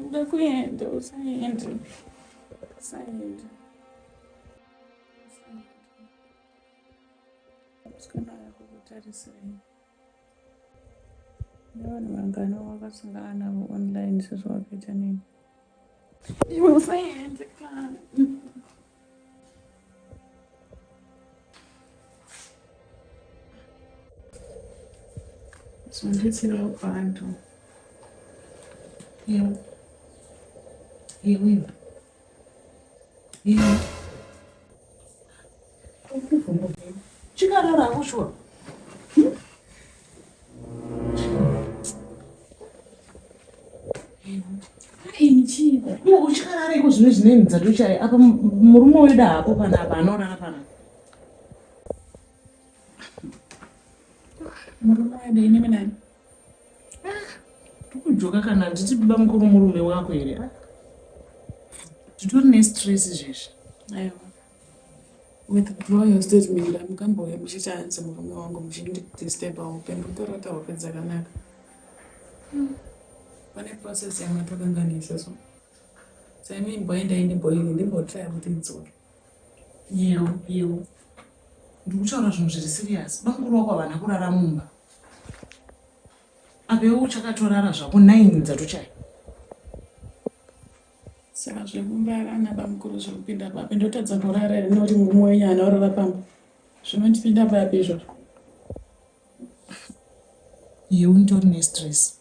Ndakuenda usaende. Usaende. Usaende. Usaende. Vanhu vangani vakasangana navo online sezvo vakaita nini? Iwe usaende kana. Zonditsirawo pantu. Iwe. Iwe. Iwe. Chikarara hako shuwa. Iwe uchikarara iko zvine zvine mdzatu chai apa murume weda hako pana apa anorara pana. Murume weda ine minani. Tukujoka kana nditi biba mukuru murume wako here? Titori ne stress izvezvi. Aiwa. withdrawal your statement amukambouya muchiti hanzi murume wangu muchindidisturba hope ndotorota hope dzakanaka pane process yamatokanganisa so so imi mboenda ini boili ndimbotraya kuti ndidzoke yeo yeo ndikutaura zvinhu zviri serious banguru wako havana kurara mumba apewo uchakatorara zvako nine dzatochaya saka zvekumbara ana bamukuru zvekupinda papi ndotadza kurara here nekuti murume wenyu ana orara pamba zvinondipinda papi izvozvo iye unditori nestress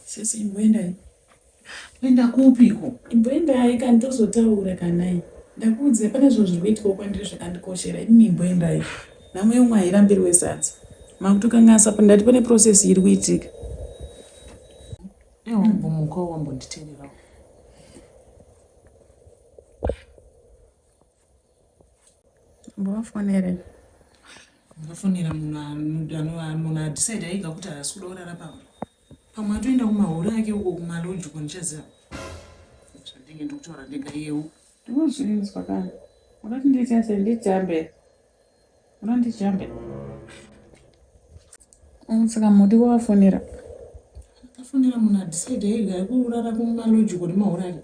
sisi imboendai Kuenda kupi iko? Imboendai kani tozotaura kanai. Ndakuudzai pane zvinhu zviri kuitwawo kwandiri zvakandikoshera. Imi imboendai. Nhamo yomwe hairambirwe sadza. Makutokanganisa apo ndati pane process iri kuitika. Ewa mbomukawo wambonditererawo. Mbovafonere. Mbovafonera munhu adecide aiga kuti haasi kuda kurara pavo. Pamwe atoenda kumahoro ake uko kumaloji uko ndichaziva. Zvandinge ndikutaura ndega iyewo. Ndinozvinzwa kana. Unoti ndichase ndijambe. Unoti ndijambe. Saka mudi kuvafonera. Ndafonera munhu adecide aiga kurara kumaloji uko nemahoro ake.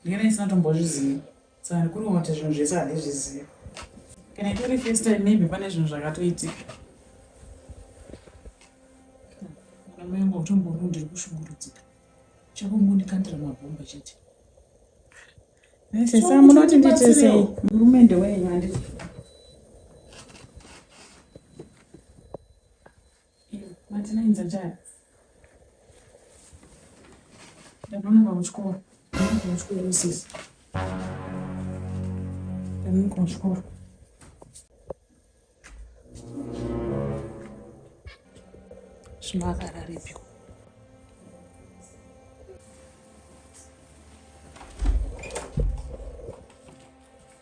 Ndinenge ndisingatombozvizivi saka ndikuringa kuti zvinhu zvese handizvizivi kana itori first time maybe pane zvinhu zvakatoitika mwana yangu utomboona ndiri kushungurudzika chakungondikandira mabhomba chete sesa munoti ndiite sei murume ndewenyu handii Matinainza jaya. Ndabona kwa kuchikoro. Ndabona kwa kuchikoro sisi. Ndabona kwa kuchikoro. Zvino akararipiko?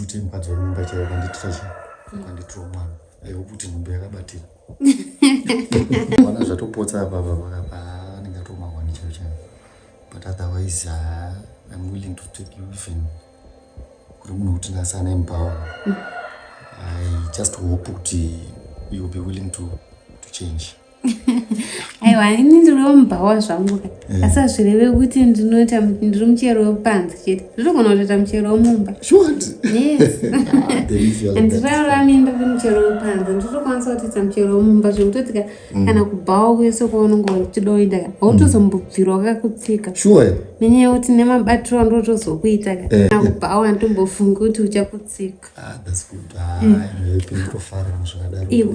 kuti mukadzi wari mumba chaiyo kanditira chi kanditira mwana aihope kuti nhumbu yakabatira vana zvatopotsa apapa pakapa anenge atomahwani chaiyo chaiyo but otherwise ah, im willing to take you even kuri munhu kuti nasana embawa i just hope kuti you will be willing to, to change aiwa ini ndirombhawa zvangu ka eh. asi hazvireve kuti ndinoita ndiri muchero wepanze chete ndinogona kutoita muchero wemumba anditaura ah, mimba ndi muchero wepanze nditokwanisa kutoita muchero wemumba zvekutoti ka mm. kana kubhawa kwese kwaunonge uchidoida ka hautozombobvirwa mm. kakutsika nenyaya yekuti nemabatiro andotozokuita ka eh. kana kubhawa antombofungi kuti uchakutsika ah, ah, mm. iwe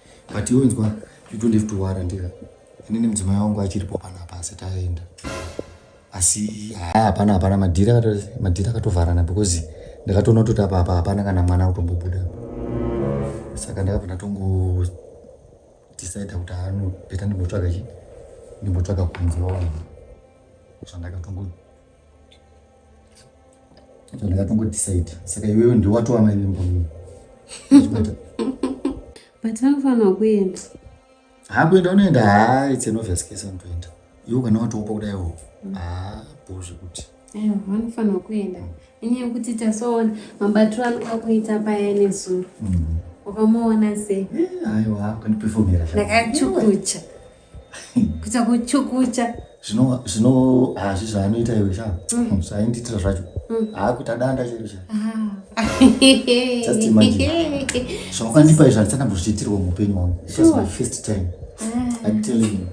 But iwe nzwa, you don't have to worry ndira. Ini nemudzimai wangu achiripo panapa asi taenda. Asi haya hapana hapana madhiri madhiri akatovharana because ndakatoona kuti apa apa hapana kana mwana utombobuda. Saka ndakabva ndatongo decide kuti ano beta ndimbotsvaga chi ndimbotsvaga kunze waona. Zvandakatongo ndakatongodisaida saka iwewe ndiwe watova mai vembomi but vanofanirwa kuenda haa kuenda unoenda haa its an obvious case anotoenda iwe kana watopa kudai wo mm. haa bho zvekuti aiwa vanofanirwa kuenda inyaya yekuti tasoona mabatiro anoda kuita paya nezuro mm. wakamuona sei eh, aiwa kandipefomera ndakachukucha kuita kuchukucha zvino zvino hazvi zvaanoita iwe sha mm. zvaindiitira zvacho mm. haakuita danda chero sha zvawakandipa izvi handisana kuzviitirwa muupenyu wangu it was my first time ah. i'm telling you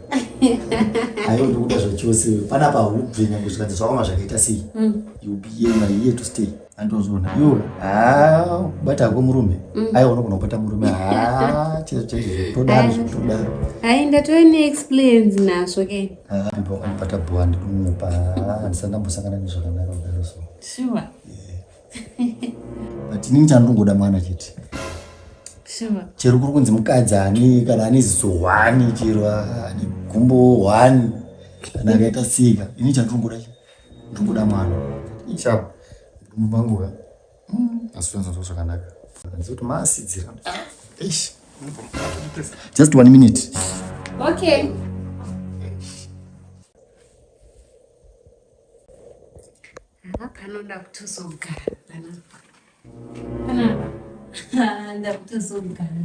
aiwa ndikuda zvachose panapa hubve nyange zvikanzi zvakoma zvakaita sei mm. you be here my year to stay andozviona iwe haa kubata hako murume mm. aiwa unogona kubata murume haa chizvo chaicho zvekutodaro zvekutodaro hai ndatove neexperience nazvo ke haa bibo anobata bhowa ndikumupa handisati ndambosangana nezvakanaka kudaro so sure but inini chandongoda mwana chete sure chero kuri kunzi mukadzi ani kana ane ziso hwani chero ane gumbo hwani kana akaita sika inini chandongoda chete Ndikuda mwana. Ichapa. Mumbanguva. Mm. Asi unzwa zvakanaka. Ndikuti maasidzira. Eish. Just one minute. Okay. Panoda kutozogara panapa. Panapa. Ndakutozogara.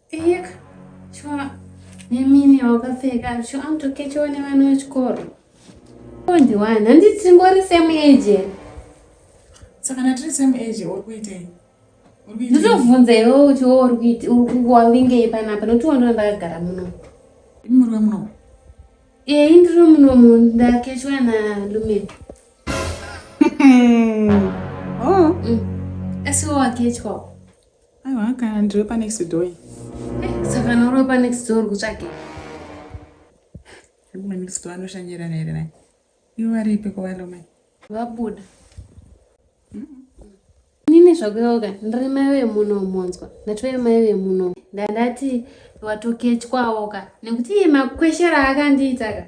Iyeka, chwa, nemini wakapfeka, chwa, amutokechewa nevana vechikoro. Kondi wani, handi tingori same age. Saka natiri same age, uri kuitei? Ndizovunza iwe kuti wo uri kuiti, uri kuwavingei panapa, nokuti wandona ndakagara muno. Imi muri wemuno? Eyi, ndiri muno munhu, ndakechwa nalume. oh. Mm. Asi wo wakechwawo. Aiwa kana ndiri pa next door. Eh, saka noro pa next door kutsvage. Kuma next door anoshanyira naye naye. Iwe vari ipi kuvanhu mai? Vabuda. Nini zvakuyoka ndiri mai vemuno umonzwa ndatove mai vemuno ndandati watokechwawoka nekuti iye makweshera akandiita ka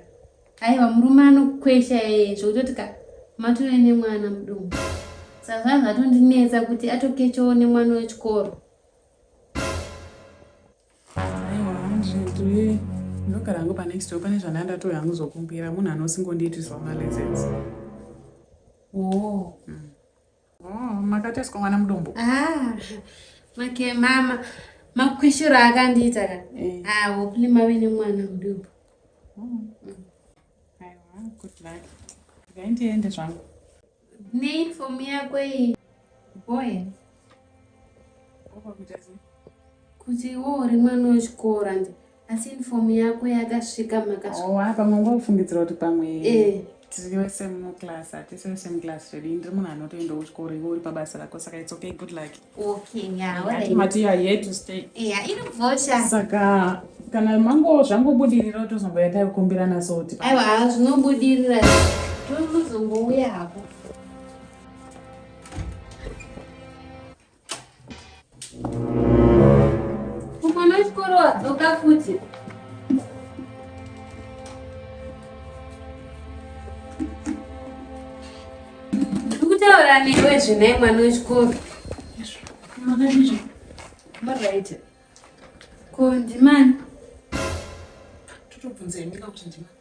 Aiwa murume anokwesha yeye zvokutoti ka matove nemwana mudumbu saka zvanhu zvatondinetsa kuti atokechawo nemwana wechikoro ndogara hangu panext door pane zvana ndatoya hangu zvokumbira munhu anosingondiitiswa malesons oo oh. mm. Oh, makateswa mwana mudumbu. Ah, make mama makwishiro akandiita ka. Eh. Ah, hopefully mave nemwana mudumbu. Mm. Aiwa, good luck. Ngaindiende zvangu. Nei fomu yako iyi? Boy. Opa kuti asi. Kuti wo uri mwana wechikoro ndi. Asi inform yako yakasvika makasvika. Oh, apa manga ufungidzira kuti pamwe eh. tiri wese mu class hatisi wese mu class redu ndiri munhu anotoenda kuchikoro iwe uri pabasa rako saka it's okay good luck. Okay, yeah, all right. Mati you are here to stay. Yeah, iri voucher. Saka kana mango zvangobudirira tozomboya takukumbirana so kuti. Aiwa, ah, zvinobudirira. Tozongouya hapo. Mwana wechikoro wadzoka futi. Ndikutaura newe zvinai mwana wechikoro. Makadii? Maraita. Ko ndimani? Totobvunza imika kuti ndimani.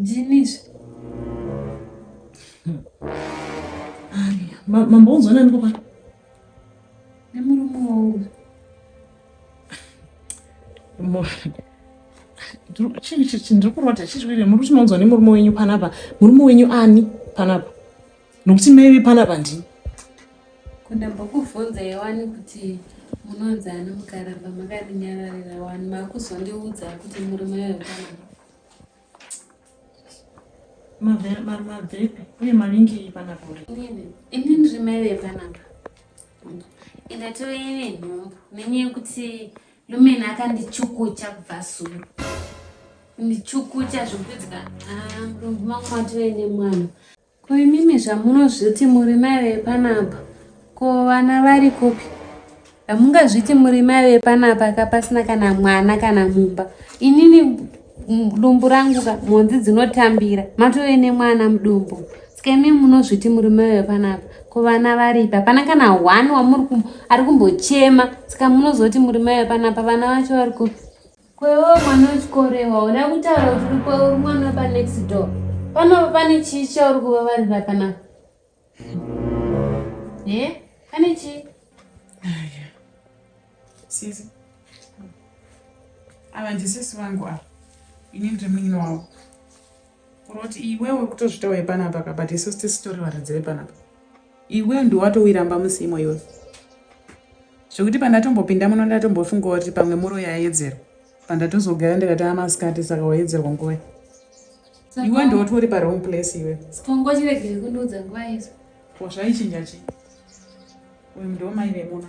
Ndinizve. Aria, mambo unzwa nani kokwana? Nemurume wangu. Chii chii ndiri kurota chii chii muri kuchimaunzwa nemurume wenyu panapa? Murume wenyu ani panapa? nokuti mai vepanapa ndini kundambokubvunzai wani kuti munonzi ani mukaramba makaninyararira wani makuzondiudza kuti muri muyoepanapa mabvepi uye mavingii panapa uri inini ini ndiri mai vepanapa ende tove ine nhombo nenyaya yekuti lumeni akandichukucha kubva suru ndichukucha zvekuti ka ah, murungu mangu matove nemwana Ko imimi zvamunozviti muri mai vepanapa ko vana vari kupi? Hamungazviti muri mai vepanapa ka pasina kana mwana kana mumba. Inini dumbu rangu ka mhonzi dzinotambira matove nemwana mudumbu ska imimi munozviti muri mai vepanapa ko vana varipi? Hapana kana one wamuri ari kumbochema ska munozoti muri mai vepanapa vana vacho vari kupi? Kwewe mwana wechikorewa uda kutaura kuti uri kwewe uri mwana weba next door. Panopa pane chii chauri kuvavarira panapa? Eh? Pane chii? Sisi. Ava ndisisi vangu ava. Ini ndiri munyina wavo. Kuroti iwewe kutozvitawo yepanapa ka but isu tisitori varidzi vepanapa. Iwewe ndiwatoiramba musi imwe iwewe. Zvekuti pandatombopinda muno ndatombofunga kuti pamwe muro yaedzerwa. Pandatozogara ndikati amasikati saka waedzerwa nguva. Iwe ndotori pa wrong place iwe. Sikongo chiregere kundiudza nguva yeso. Ko zvaichinja chii? Uyu ndomai vemuna.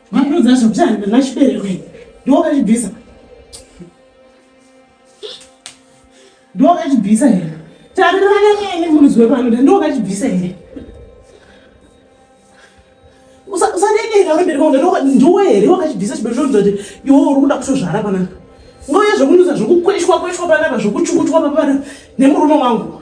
Mamuudza zvokuti handina chibereko ini. Ndiwakachibvisa. Ndiwakachibvisa here? Tarirana neni munzwe pano kuti ndiwakachibvisa here? Usaneneka uri mberi kwangu ndiwe here wakachibvisa chibereko ndonzwa kuti iwe uri kuda kutozvara panapa. Ngoya zvokunutsa zvokukweshwa kweshwa panapa zvokuchukuchwa panapa nemurume wangu.